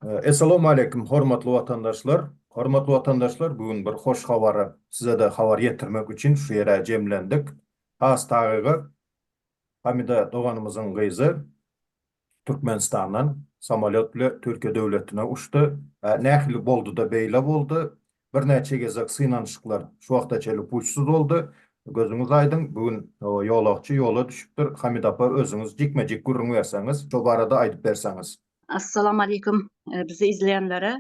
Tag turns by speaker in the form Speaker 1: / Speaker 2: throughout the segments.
Speaker 1: Essalawmaleýkim hormatly watandaşlar! Hormatly watandaşlar bu gün bir hoş habary sizede habar ýetirmek üçin şu ýere jemlendik. Has tagygy Hamida doganymyzyň gyzy Türkmenistandan samolýot bile Türkiýe döwletine uçdy. Nähili boldyda beýle boldy? Birnäçe gezek synanyşyklar şu wagta çenli puçsyz boldy. Gözüňiz aýdyň, bu gün ýolagçy ýola düşüpdir. Hamida apa özüňiz jikme-jik gürrüň berseňiz, şo barada aýdyp berseňiz. Assalamu aleykum
Speaker 2: bizi izleýänlere.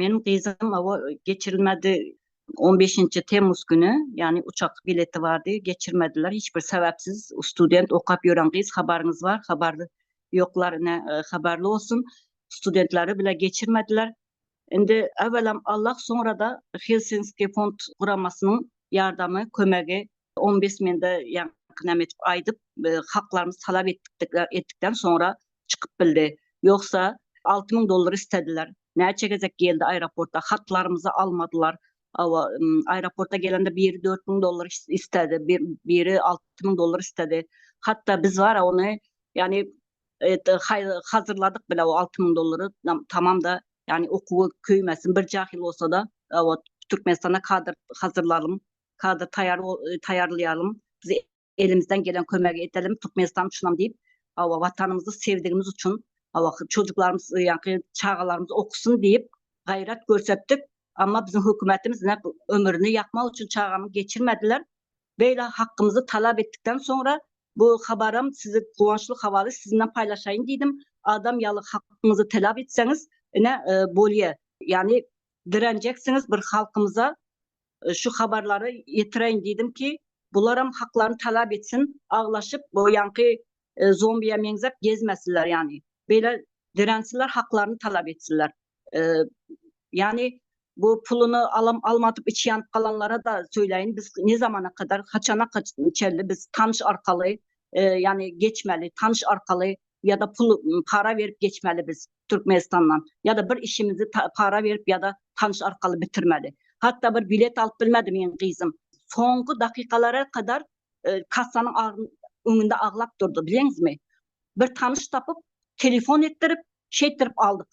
Speaker 2: Meniň gyzym oba geçirilmedi. On beşinji temmuz güni, ýagny uçak bileti bardy, geçirmediler. Hiç bir sebäpsiz student okap ýören gyz habaryňyz bar, habar ýoklar, ine habarly bolsun. Studentleri bile geçirmediler. Indi ewelam Allah, soňra-da Helsinski fond guramasynyň ýardamy, kömegi, ombudsmende ýa näme edip aýdyp, haklarymyzy talap etdikden soňra çykyp bildi. Ýogsa alty müň dollar istediler. Näçe gezek geldi aeroporta, hatlarymyzy almadylar. Hawa, aeroporta gelende biri dört müň dollar istedi, biri alty müň dollar istedi. Hatda biz bar-a ony, ýagny hazyrladyk bile o alty müň dollary, tamam-da, ýagny okuwy köýmesin, bir jahyl bolsa-da, hawa, Türkmenistana kadr hazyrlalyň, kadr taýýarlaýalyň, bizi Elimizden gelen kömegi edelim Türkmenistan üçinam diýip hawa watanymyzy sevdigimiz üçin hawa çocuklarymyz ýaňky çagalarymyz okusyn diýip gaýrat görsetdik amma biziň hökümetimiz ne ömrüni ýakmak üçin çagamy geçirmediler beýle hakkymyzy talap etdikden soňra bu habaram sizi guwançly habaly sizinden paýlaşaýyn diýdim adam ýaly hakkymyzy talap etseňiz ine e, bolýa ýagny direnjeksiňiz bir halkymyza şu habarlary ýetireýin diýdim ki, bularam haklaryny talap etsin, aglaşyp bu ýaňky zombiýa meňzäp gezmesinler ýani. Beýle dirensinler haklaryny talap etsinler. Ýani bu puluny alam almadyp içi ýanyp galanlara-da söýleýin biz ne zamana kadar haçana çenli biz tanyş arkaly ýani geçmeli tanyş arkaly ýada pul para berip geçmeli biz türkmenistandan ýada bir işimizi para berip ýada tanyş arkaly bitirmeli hatda bir bilet alyp bilmedi meň gyzym soňky dakykalara kadar kassanyň öňünde aglap durdy bileňizmi bir tanyş tapyp telefon etdirip şeýtdirip aldyk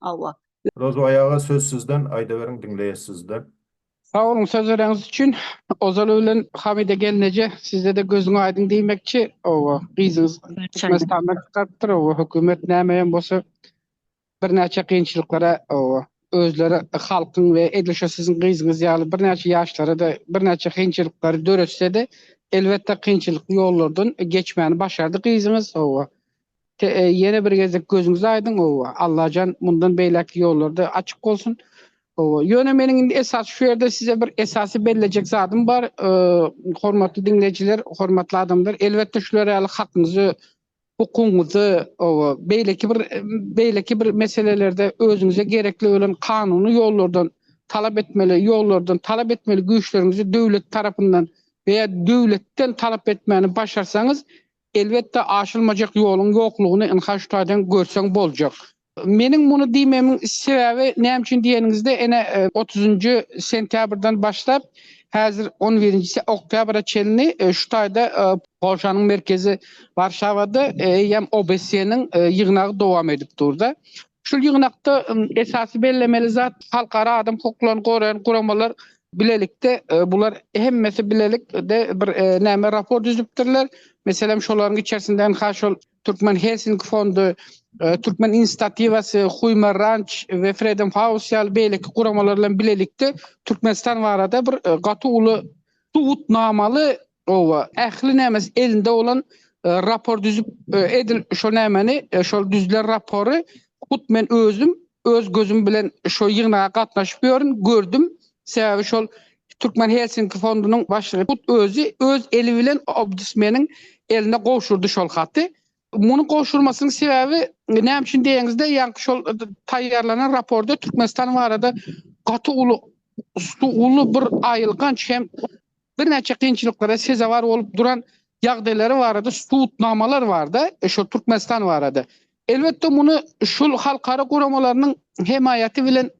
Speaker 2: Hawa.
Speaker 1: Rozo aýaga söz sizden aýdaweriň diňleýäs sizde. Sag boluň
Speaker 3: sözlereňiz üçin. Ozal bilen Hamide gelneje sizdede gözüň aýdyň diýmekçi oba gyzyňyz Türkmenistandan çykarypdyr oba hökümet näme hem bolsa birnäçe kynçylyklara oba özleri halkyň we edil şo siziň gyzyňyz ýaly birnäçe ýaşlarada birnäçe kynçylyklary döretsede elbetde kynçylykly ýollardan geçmäni başardy gyzyňyz oba Ýene bir gezek gözüňiz aýdyň Allajan mundan beýläkki ýollarda açyk bolsun. Ýöne meniň indi esasy şu ýerde size bir esasy bellejek zadym bar hormatly diňleýjiler hormatly adamlar elbetde şular ýaly hakyňyzy hukugyňyzy beýleki bir beýleki bir meselelerde özüňize gerekli bolan kanuny ýollardan talap etmeli ýollardan talap etmeli güýçleriňizi döwlet tarapyndan we ýa döwletden talap etmäni başarsaňyz Elbetde aşylmajak ýoluň ýoklugyny ynha şu taýdan görseň boljak. Meniň muny diýmemiň sebäbi näme üçin diýeniňizde ene otuzynjy sentýabrdan başlap häzir on birinji oktýabra çenli şu taýda Polşanyň merkezi Warşawada eýýäm OBSE-niň ýygnagy dowam edip durda. Şu ýygnakda esasy bellemeli zat, halkara adam hukuklaryny goraýan guramalar bilelikde, bular hemmesi bilelikde bir näme raport düzüpdirler. Meselem, şolaryň içerisinde NH şol Türkmen Helsinki fondy, Türkmen inisiatiwasy, Huýmer Ranç we Freedom House ýaly beýleki guramalar bilen bilelikde Türkmenistan barada bir gaty uly subutnamaly Gowa ähli nämes elinde bolan rapor düzüp edil şo nämeni şol düzülen rapory hut men özüm öz gözüm bilen şo ýygnaga gatnaşyp ýörün gördüm sebäbi şol Türkmen Helsinki fondunyň başlygy hut özi öz eli bilen obdusmeniň eline gowşurdy şol haty Munuň gowşurmasynyň sebäbi näme üçin diýeňizde, ýaňky şol taýýarlanan raporda Türkmenistan barada gaty uly uly bir aýylganç hem birnäçe kynçylyklara sezewar bolup duran ýagdaýlary barada subutnamalar bar-da, şol Türkmenistan barada. Elbetde, muny şol halkara guramalarynyň hemaýaty bilen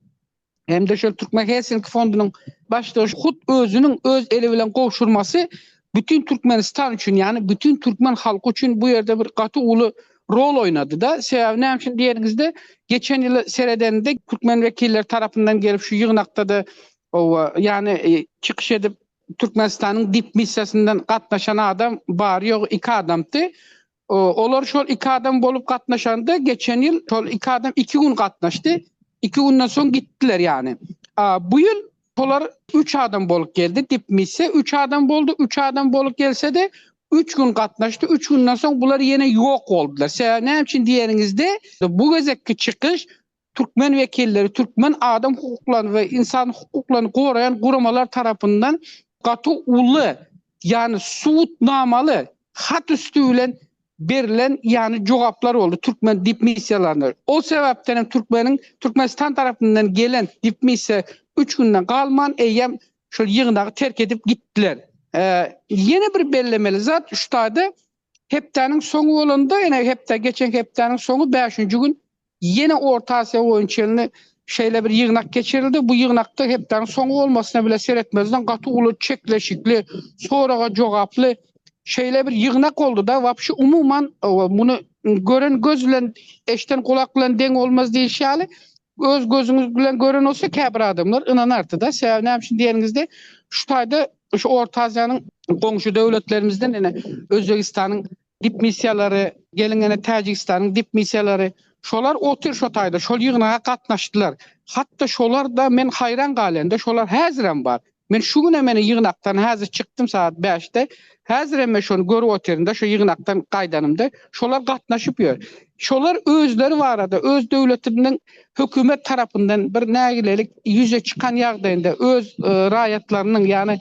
Speaker 3: hem-de şol Türkmen Helsinki fondunyň baştutanynň hut özüniň öz eli bilen gowşurmasy bütin Türkmenistan üçin, ýagny bütin türkmen halky üçin bu ýerde bir gaty uly rol oýnady-da. Sebäbi näme üçin diýeniňizde, geçen ýyl seredende türkmen wekilleri tarapyndan gelip şu ýygnakda-da, oba, ýagny çykyş edip Türkmenistanyň dipmissiýasyndan gatnaşan adam bary-ýogy iki adamdy. Olar şol iki adam bolup gatnaşanda geçen ýyl şol iki adam iki gün gatnaşdy. Iki günden soň gitdiler ýany. Bu ýyl şolar üç adam bolup geldi. Dipmisse üç adam boldy. Üç adam bolup gelse-de üç gün gatnaşdy. Üç günden soň bular ýene ýok boldular. Sebäbi näme üçin diýeniňizde bu gezekki çykyş Türkmen wekilleri türkmen adam hukuklaryny we ynsan hukuklaryny goraýan guramalar tarapyndan gaty uly, ýagny subutnamaly hat üsti bilen berilen ýagny jogaplar boldy türkmen dipmissiýalaryna. Ol sebäpden hem türkmeniň Türkmenistan tarapyndan gelen dipmissiýa üç günden galman eýýäm şol ýygnagy terk edip gitdiler. Ýene bir bellemeli zat şutaýda Hepdäniň soňy bolanda, ene hepde, geçen hepdäniň soňy bäşinji gün ýene Orta Aziýa boýunçelni şeýle bir ýygnak geçirildi. Bu ýygnakda hepdäniň soňy bolmasyna bile seretmezden gaty uly çekleşikli, soraga jogaply şeýle bir ýygnak boldy-da, wapşy umuman muny gören göz bilen, eşden gulak bilen deň bolmaz diýilişi ýaly, Öz gözüňiz bilen gören bolsa käbir adamlar ynanardyda. Sebäbi näme üçin diýeniňizde, şu taýda şu Orta Aziýanyň goňşy döwletlerimizden ene Özbegistanyň dipmissiýalary, geliň ene Täjigistanyň dipmissiýalary, şolar otyr şo taýda, şol ýygnaga gatnaşdylar. Hatda şolar-da men haýran galýanda, şolar häzirem bar. Men şu günem ene ýygnakdan häzir çykdym sagat bäşde. Häzirem men şony görüp otyryn-da, şu ýygnakdan gaýdanymda. Şolar gatnaşyp ýör. Şolar özleri barada, öz döwletiniň hökümet tarapyndan bir nägilelik ýüze çykan ýagdaýynda öz raýatlarynyň, ýagny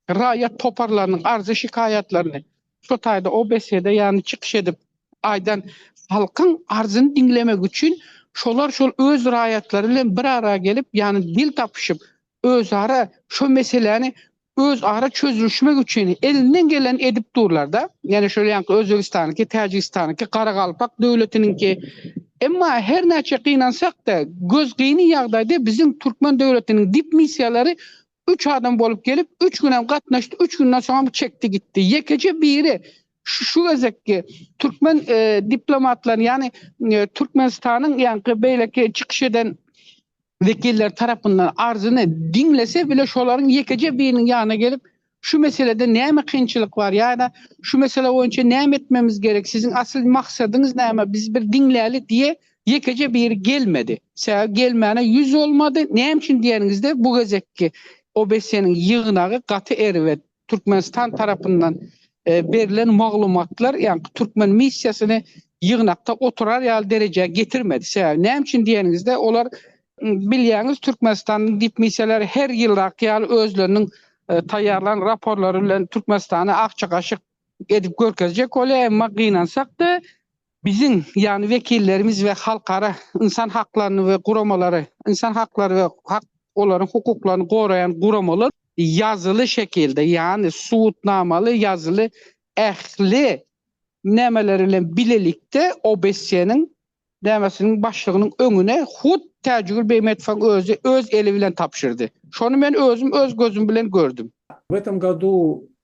Speaker 3: raýat toparlarynyň arzy-şikaýatlaryny şo taýda o besede, ýagny çykyş edip aýdan halkyň arzyny diňlemek üçin şolar şol öz raýatlary bilen bir ara gelip, ýagny dil tapyşyp, özara şo meseläni özara çözülişmek üçin elinden gelenini edip durlarda ýani şol ýanky Özbegistanyňky Täjigistanyňky Garagalpak döwletiniňki emma her näçe gynansakda göz gyny ýagdaýda biziň Türkmen döwletiniň dip missiýalary üç adam bolup gelip üç günem gatnaşdy üç günden soňam çekdi gitdi ýekeje biri şu gezekki Türkmen diplomatlaryny ýani Türkmenistanyň ýanky beýleki çykyş eden wekilleri tarapyndan arzyny diňlese bile şolaryň ýekeje biriniň ýanyna gelip, şu meselede näme kynçylyk bar ýa-da şu mesele boýunça näme etmemiz gerek, siziň asyl maksadyňyz näme, biz bir diňläli diýe ýekeje biri gelmedi. Sebäbi gelmäne ýüz bolmady. Näme üçin diýeniňizde bu gezekki OBSE-niň ýygnagy gaty erbet. Türkmenistan tarapyndan berlen maglumatlar ýaňky türkmen missiýasyny ýygnakda oturar ýaly derejä getirmedi. Sebäbi näme üçin diýeniňizde, olar bilýäňiz Türkmenistanyň dipmissiýalary her ýyldaky ýaly özleriniň taýýarlan raporlary bilen Türkmenistany akja-gaşyk edip görkezjek bolýar, emma gynansak-da, Biziň ýaly wekillerimiz we halkara ynsan haklaryny we guramalary, ynsan haklary we hak olaryň hukuklaryny goraýan guramalar ýazyly şekilde, ýagny subutnamaly ýazyly ähli nämeleri bilen bilelikde OBSE-niň nämesiniň başlygynyň öňüne hut Täjigül Beýmetowyň özi öz eli bilen tabşyrdy. Şony men özüm öz gözüm bilen gördüm. W этом году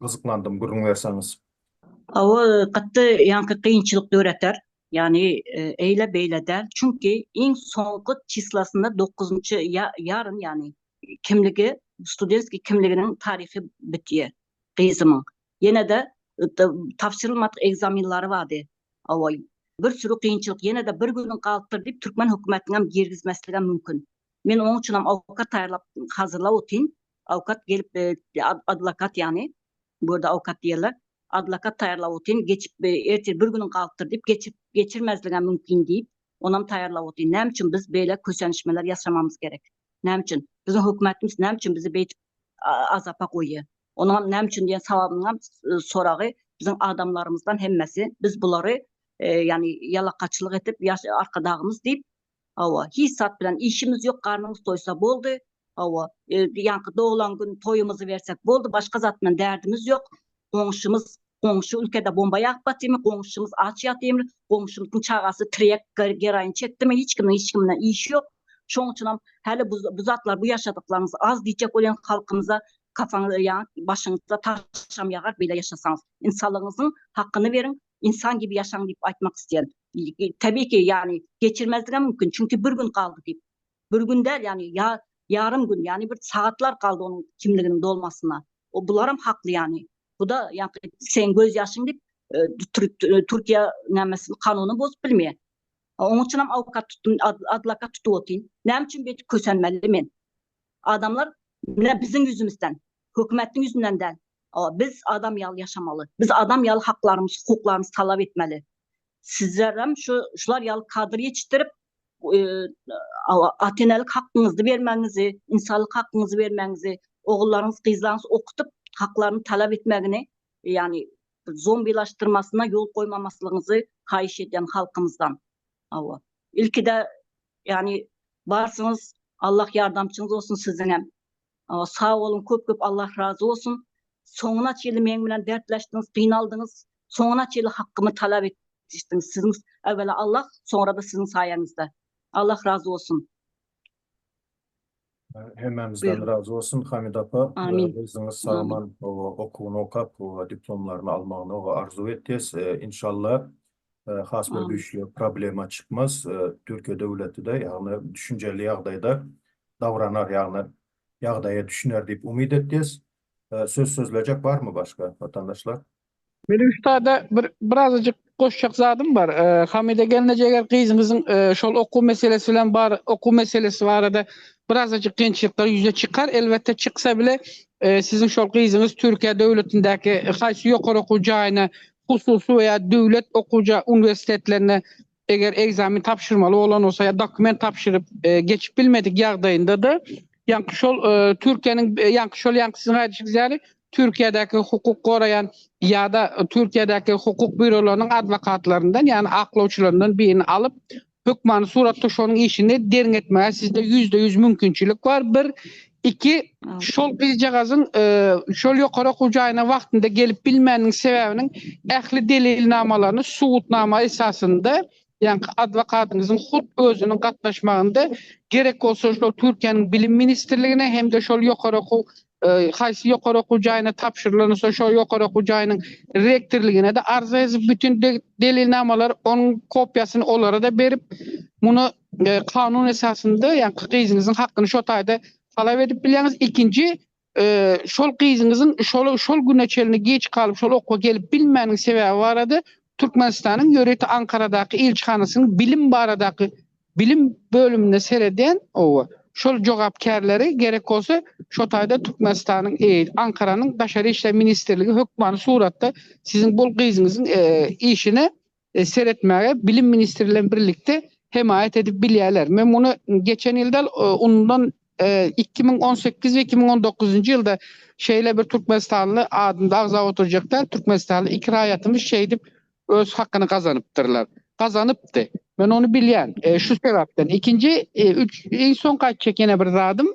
Speaker 1: Gyzyklandym gürrüň berseňiz. Hawa
Speaker 2: gaty ýaňky kynçylyk döreter. Ýagny eýle beýle däl. Çünki iň soňky çislasyna dokuzynjy ýarym ýagny kimligi studentskiý kimliginiň taryhy bitýär gyzymyň. Ýenede tabşyrylmadyk ekzamenlary bardy. Hawa bir süri kynçylyk ýenede bir günüň galypdyr diýip türkmen hökümetiniňem girgizmesligem mümkin. Men onuň üçinem awkat taýýarlap hazyrlap otyryn. Awkat gelip adlakat ýagny bu ýerde awkat diýerler. Adlakat taýýarlap otyryn, geçip ertir bir günüň galypdyr diýip geçip geçirmezligem mümkin diýip, onam taýýarlap otyryn. Näme üçin biz beýle kösenişmeler ýasamamyz gerek? Näme üçin? Biziň hökümetimiz näme üçin bizi beýdip azapa goýýar? Onuňam näme üçin diýen sawabynyňam soragy biziň adamlarymyzdan hemmesi biz bulary ýagny ýalakaçylyk edip ýaş arkadagymyz diýip Hawa, hiç zat bilen işimiz ýok, garnymyz toýsa boldy. Hawa, ýaňky doglan gün toýumyzy bersek boldy, başga zat bilen därdimiz ýok. Goňşymyz, goňşy ülkede bomba ýagyp batymy, goňşymyz aç ýatymy, goňşymyzyň çagasy tirýek geroin çekdimi, hiç kimiň hiç kim bilen işi ýok. Şoň üçin hem häli bu bu zatlar, bu ýaşadyklaryňyz az diýjek bolýan halkymyza kafaňyz ýa başyňyza taşam ýagar beýle ýaşasaňyz. Ynsanlygyňyzyň hakyny beriň, Insan gibi yaşaň diýip aýtmak isleýän. Tabii ki, ýagny geçirmezligem mümkin, çünki bir gün galdy diýip. Bir gün däl, ýagny ýa ýarym gün, ýagny bir sagatlar galdy onuň kimliginiň dolmasyna. O bularam hakly ýagny. Bu-da ýaňky seň göz ýaşyň diýip, Türkiýe nämesini, kanunyny bozup bilmeýär. Onuň üçinem awkat tutdum, adlakat tutup otyryn. Näme üçin beýdip kösenmeli men? Adamlar mine biziň ýüzümizden, hökümetiň ýüzünden däl. Biz adam ýaly ýaşamaly. Biz adam ýaly haklarymyzy, hukuklarymyzy talap etmeli. Sizlerem şu şular ýaly kadr ýetişdirip, ata-enelik hakyňyzy bermegiňizi, ynsanlyk hakyňyzy bermegiňizi, ogullaryňyzy, gyzlaryňyzy okudyp, haklaryny talap etmegini, ýagny zombilaşdyrmasyna ýol goýmamaslygyňyzy haýyş edýän halkymyzdan. Hawa. Ilkide ýani barsyňyz Allah ýardamçyňyz bolsun siziňem. Hawa sag boluň köp köp Allah razy bolsun. Soňuna çenli meň bilen dertleşdiňiz, gynaldyňyz. Soňuna çenli hakkymy talap etdiňiz. Siziň äwela Allah, soňra-da siziň saýaňyzda. Allah razy bolsun.
Speaker 1: Hemmämizden razy bolsun
Speaker 2: Hamida apa.
Speaker 1: Amin. Gyzyňyz
Speaker 2: sagaman
Speaker 1: okuwyny okap, diplomlaryny almagyny arzuw etýäs. Inşallah has bir güýçli problema çykmaz. Türkiýe döwleti-de ýagny düşünjeli ýagdaýda dawranar, ýagny ýagdaýa düşüner diýip umyt etýäs. Söz sözlejek barmy başga watandaşlar? Meniň üstada
Speaker 3: bir birazajyk goşjak zadym bar. Hamide gelneje eger gyzyňyzyň şol okuw meselesi bilen bar okuw meselesi barada birazajyk kynçylyklar ýüze çykar. Elbetde çyksa bile siziň şol gyzyňyz Türkiýe döwletindäki haýsy ýokary okuw jaýyna hususy we ýa döwlet okuw uniwersitetlerine Eger ekzamen tabşyrmaly bolan bolsa ýa dokument tabşyryp geçip bilmedik ýagdaýynda-da, ýaňky şol Türkiýäniň, ýaňky şol ýaňky siziň aýdyşyňyz ýaly Türkiýädäki hukuk goraýan ýa-da Türkiýädäki hukuk býurolarynyň adwokatlaryndan, ýagny aklawçylaryndan birini alyp, hökmany suratda şonuň işini derňetmäge sizde ýüzde ýüz mümkinçilik bar, bir. Iki, şol gyzjagazyň şol ýokary okuw jaýyna wagtynda gelip bilmäniniň sebäbiniň ähli delilnamalaryny subutnama esasynda, ýaňky adwokatyňyzyň hut özüniň gatnaşmagynda, gerek bolsa şol Türkiýäniň Bilim ministrligine hem-de şol ýokary okuw haýsy ýokary okuw jaýyna tabşyrylansa şol ýokary okuw jaýynyň rektorligine-de arza ýazyp, bütin delilnamalary onuň kopiýasyny olara-da berip, muny kanun esasynda ýaňky gyzyňyzyň hakyny şo taýda talap edip bilýäňiz. Ikinji, şol gyzyňyzyň şol şol güne çenli geç galyp şol okuwa gelip bilmäniniň sebäbi barada Türkmenistanyň ýörite Ankaradaky ilçihanasynyň bilim baradaky bilim bölüminde seredýän owa şol jogapkärleri gerek bolsa şo taýda Türkmenistanyň Ankaranyň Daşary işler ministrligi hökmany suratda siziň bol gyzyňyzyň işine seretmäge Bilim ministri bilen birlikde hemaýat edip bilýärler. Men muny geçen ýyl däl, ondan iki müň on sekiz we iki müň on dokuzynjy ýylda şeýle bir türkmenistanly adynda agzap oturjak däl, türkmenistanly iki raýatymyz şeýdip öz hakyny gazanypdyrlar. Gazanypdy. Men ony bilýän. Şu sebäpden. Ikinji, iň soňky aýtjak ýene bir zadym,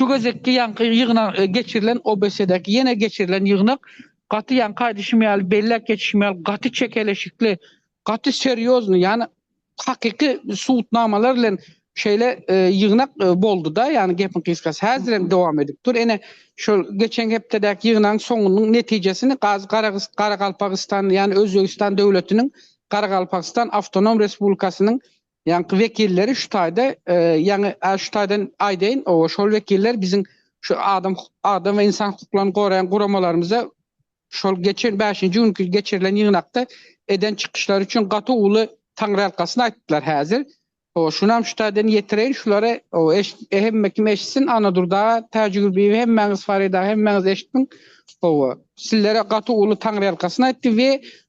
Speaker 3: Şu gezekki ýaňky ýygnak geçirilen OBS-däki ýene geçirilen ýygnak gaty ýaňky aýdyşym ýaly belläp geçişim ýaly gaty çekeleşikli gaty serýozny ýani hakyky subutnamalar bilen şeýle ýygnak boldyda ýani gepiň gysgasy häzir hem dowam edip dur ene şol geçen hepdedäki ýygnagyň soňunyň netijesini gazy garagyst garagalpagystan ýani özbegistan döwletiniň garagalpagstan awtonom respublikasynyň Ýaňky wekilleri şu taýda, ýaňy şu taýdan aýdaýyn, oba şol wekiller biziň şu adam adam we ynsan hukuklaryny goraýan guramalarymyza şol geçen bäşinji günki geçirilen ýygnakda eden çykyşlary üçin gaty uly taňryýalkasyn aýtdylar häzir. Oba şunam şu taýdan ýetireýin şulary, oba eşit hemme kim eşitsin, Annadur daga, Täjigürbiýewi hemmäňiz, Farida hemmäňiz eşitdiň, oba sizlere gaty uly taňryýalkasyn aýtdy we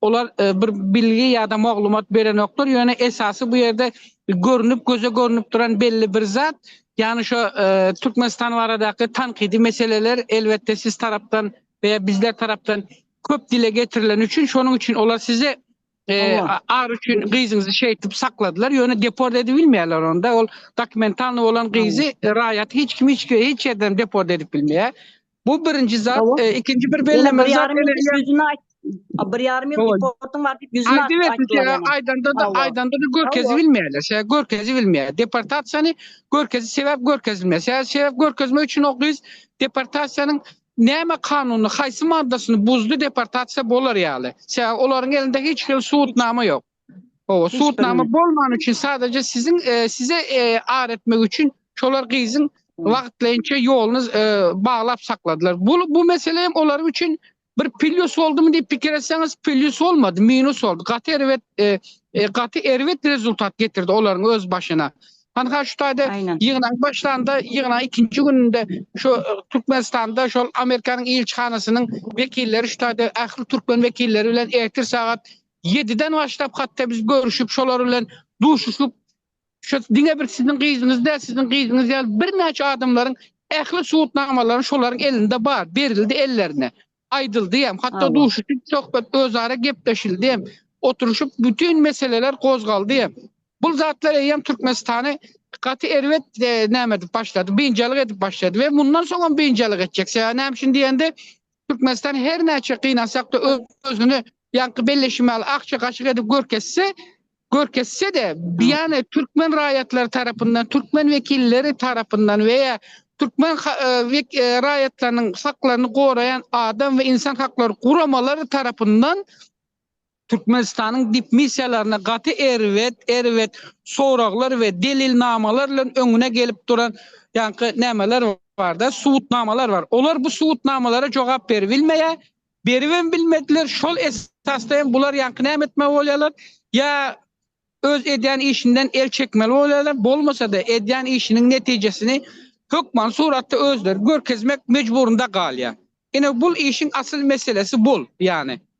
Speaker 3: Olar bir bilgi ýa-da maglumat berenoklar, ýöne esasy bu ýerde görnüp, göze görnüp duran belli bir zat, ýagny şo Türkmenistan baradaky tankydy meseleler elbetde siz tarapdan we bizler tarapdan köp dile getirileni üçin, şonuň üçin olar sizi ar üçin gyzyňyzy şeýtip sakladylar, ýöne deport edip bilmeýärler onda, ol dokumentalny bolan gyzy raýat hiç kim hiç ýerden deport edip bilmeýär. Bu birinji zat. Hawa. E, ikinji bir Ýene bellemeli bir zat. ýarym ýyl Eneler- ýüzüne aýt. A,
Speaker 2: Bir ýarym ýyl Hawa. deportyň bar diýip ýüzüne Aýdyp aýtdylar etdi, ýene. aýdanda da, Hawa. aýdanda da
Speaker 3: görkezi Hawa. bilmeýärler. Şä görkezi bilmeýär. Deportasiýany görkezi sebäp görkezilmeýär. Şä sebäp görkezmek üçin o gyz deportasiýanyň näme kanunyny, haýsy maddasyny buzdy deportasiýa bolar ýaly. Şä olaryň elinde hiç hili subutnama ýok. Owa, sudnama bolman üçin sadece siziň e, size e, ar etmek üçin şolar gyzyň wagtlaýynça ýoluny e, baglap sakladylar. Bu bu mesele hem olar üçin bir pillus oldumy diýip pikir etseňiz, pillus olmady, minus oldu. Gaty erbet e, e, gaty erbet rezultat getirdi olaryň öz başyna. Hanha şu taýda Aynen. ýygnaň başlanda, ýygnaň ikinji gününde şu e, Türkmenistanda şol Amerikanyň ilçihanasynyň wekilleri şu taýda ähli türkmen wekilleri bilen ertir sagat Ýediden başlap hatda biz görüşip şolar bilen duşuşyp şu diňe bir siziň gyzyňyz däl siziň gyzyňyz ýaly birnäçe adamlaryň ähli subutnamalary şolaryň elinde bar berildi ellerine aýdyldy hem hatda duşuşyp söhbet özara gepleşildi hem oturyşyp bütin meseleler gozgaldy hem bul zatlar eýýäm Türkmenistany gaty erbet e, näme edip başlady, biynjalyk edip başlady we mundan soň hem biynjalyk etjek. Sebäbi näme üçin diýende, Türkmenistan her näçe gynansak-da özüni ýaňky belleşime ýaly akja gaşyk edip görkezse, görkezse-de, ýany türkmen raýatlary tarapyndan, türkmen wekilleri tarapyndan we ýa türkmen raýatlarynyň haklaryny goraýan adam we insan haklary guramalary tarapyndan Türkmenistanyň dipmissiýalaryna gaty erbet, erbet soraglar we delilnamalar bilen öňüne gelip duran ýaňky nämeler bar-da, subutnamalar bar. Olar bu subutnamalara jogap beribilmeýär, beribem bilmediler. Şol esasda hem bular ýaňky näme etmeli bolýarlar? Ýa öz edýän işinden el çekmeli bolýarlar, bolmasa-da edýän işiniň netijesini hökmany suratda özleri görkezmek mejburynda galýar. Ine, bul işiň asyl meselesi bul, ýagny.